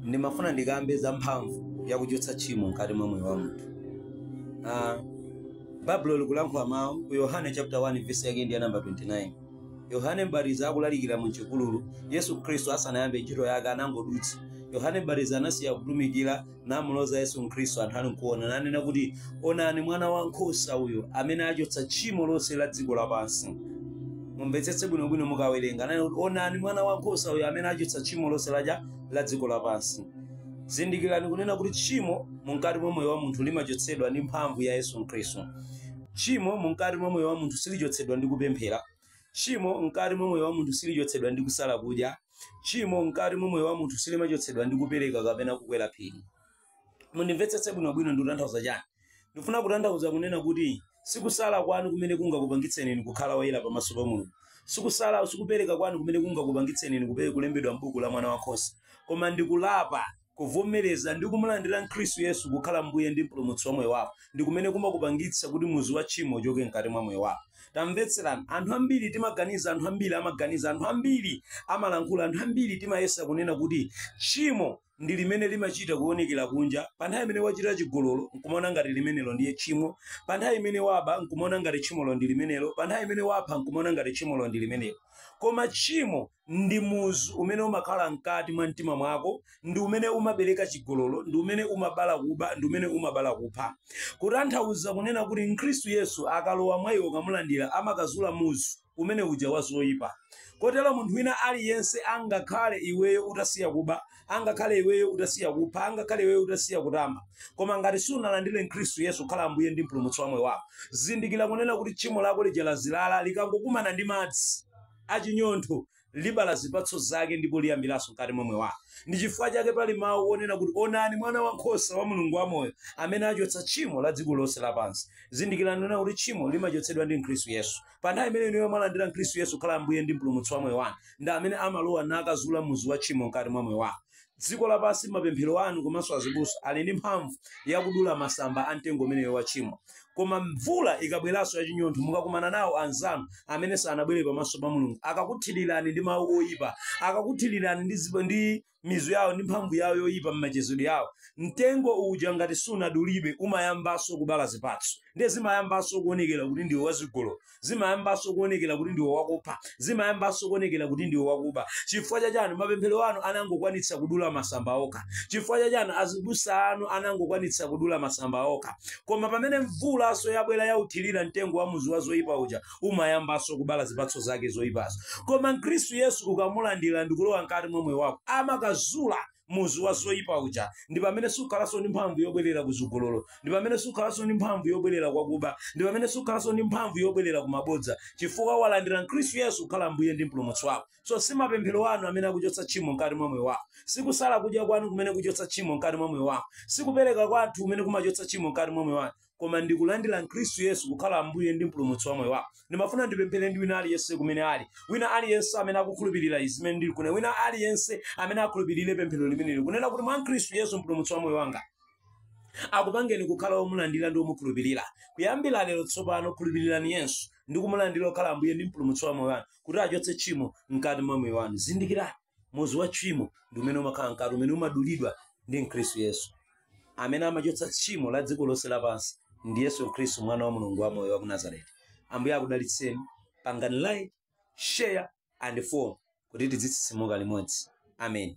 ndimafuna ndikambe za mphamvu yakuchotsa tchimo mkati mwa moyo wa munthu Ah, baibulo likulankhula mawu ku yohane chapter 1 verse yake ndi ya namba 29 yohane mbatizi akulalikira mu chipululu yesu khristu asanayambe ntchito yake anangodutsa yohane mbatizi anasiya kutumikira namuloza yesu khristu anthu ali nkuona nanena kuti onani mwana wa nkhosa uyo amene achotsa tchimo lonse la dziko lapansi mumvetsetse bwinobwino mukawerenga ananena kuti onani mwana wa nkhosa uyo amene achotsa tchimo lonse laja la dziko lapansi zindikirani kunena kuti tchimo mumkati mwa moyo wa munthu limachotsedwa ndi mphamvu ya yesu khristu tchimo mumkati mwa moyo wa munthu silichotsedwa ndi kupemphera Tchimo mkati mwa moyo wa munthu silichotsedwa ndi kusala kudya. Tchimo mkati mwa moyo wa munthu silimachotsedwa ndi kupereka kapena kukwera phiri. Mundimvetsetse bwinobwino ndikutanthauza chani. Ndifuna kutanthauza kunena kuti sikusala kwanu kumene kungakupangitseni inu kukhala oyera pamaso pa Mulungu. Sikusala, sikupereka kwanu kumene kungakupangitseni inu kupe- kulembedwa m'buku la mwana wa nkhosa. Koma ndi kulapa Kuvomereza ndi kumulandira Khristu Yesu kukhala Mbuye ndi Mpulumutsi wa moyo wako ndi kumene kumakupangitsa kuti muzu wa tchimo uchoke mkati mwa moyo wako. Tamvetserani, anthu ambiri timaganiza, anthu ambiri amaganiza, anthu ambiri amalankhula, anthu ambiri timayesa kunena kuti tchimo ndi limene limachita kuonekera kunja. Pa nthawi imene wachita chigololo nkumaona ngati limenelo ndiye tchimo, pa nthawi imene waba nkumaona ngati tchimolo ndi limenelo, pa nthawi imene wapha nkumaona ngati tchimolo ndi limenelo. Koma tchimo ndi muzu umene umakhala mkati mwa mtima mwako ndi umene umabereka chigololo ndi umene umabala kuba ndi umene umabala kupha kutanthauza kunena kuti mkhristu yesu akalowa mwa iwe ukamulandira amakazula muzu umene uja wa zoyipa kotero munthu wina aliyense angakhale iweyo utasiya kuba angakhale iweyo utasiya kupha angakhale iweyo utasiya kutamba koma ngati sunalandire mkhristu yesu kukhala ambuye ndi mpulumutsi wa moyo wako zindikira kunena kuti tchimo lako lija lazilala likangokumana ndi madzi a chinyontho, libala zipatso zake ndipo liyambiranso mkati mwa moyo wako. Ndi chifukwa chake pali mawu onena kuti, Onani Mwana wa nkhosa wa Mulungu wamoyo, amene achotsa tchimo la dziko lonse lapansi. Zindikirani kunena kuti tchimo limachotsedwa ndi Khristu Yesu. Pa nthawi imene inuyo mwalandira Mkhristu Yesu kukhala Ambuye ndi Mpulumutsi wa moyo wanu, ndi amene amalowa nakazula muzu wa tchimo mkati mwa moyo wako. dziko lapansi mapemphero anu komanso azibusa ali ndi mphamvu yakudula masamba a mtengo umeneyo wa tchimo koma mvula ikabweranso yachinyontho mukakumana nawo anzanu amene sanabwere pamaso pa mulungu akakuthirirani ndi mawu oyipa akakuthirirani ndi, zipa- ndi mizu yawo ndi mphamvu yawo yoyipa m'machezedwe yawo mtengo uja ngati sunadulidwe umayambanso kubala zipatso ndiye zimayambanso kuonekera kuti ndiwe wazigololo zimayambanso kuonekera kuti ndiwe wakupha zimayambanso kuonekera kuti ndiwe wakuba chifukwa cha chani mapemphero anu anangokwanitsa kudula masamba okha chifukwa cha chani azibusa anu anangokwanitsa kudula masamba okha koma pamene mvulanso yabwera yothirira mtengo wa muzu wa zoyipa uja umayambanso kubala zipatso zake zoyipazo koma mkhristu yesu ukamulandira ndikulowa mkati mwa moyo wako amakazula muzu wa zoyipa uja ndi pamene sukhalanso ndi mphamvu yobwerera ku zigololo ndi pamene sukhalanso ndi mphamvu yobwerera kwa kuba ndi pamene sukhalanso ndi mphamvu yobwerera ku mabodza chifukwa walandira mkhristu yesu kukhala mbuye ndi mpulumutsi wako so si mapemphero anu amene akuchotsa tchimo mkati mwa moyo wako si kusala kudya kwanu kumene kuchotsa tchimo mkati mwa moyo wako si kupereka kwanu kumene kumachotsa tchimo mkati mwa moyo wako koma ndikulandira mkhristu yesu kukhala ambuye ndi mpulumutsi wa moyo wako ndimafuna ndipemphere ndi wina aliyense kumene ali wina aliyense amene akukhulupirira izi zimene ndili kunena wina aliyense amene akhulupirire pemphero limeneli kunena kuti mwa mkhristu yesu mpulumutsi wa moyo wanga akupangeni kukhala womulandira ndi womukhulupirira kuyambira lero tsopano khulupirirani yesu ndi kumulandira akhale ambuye ndi mpulumutsi wa moyo wanu kuti achotse tchimo mkati mwa moyo wanu zindikirani muzu wa tchimo ndi umene umakhala mkati umene umadulidwa ndi mkhristu yesu amene amachotsa tchimo la dziko lonse lapansi ndi yesu khristu mwana wa mulungu wa moyo wa ku nazareti ambuye akudalitseni pangani like share and follow kuti tidzitsitsimuka limodzi amen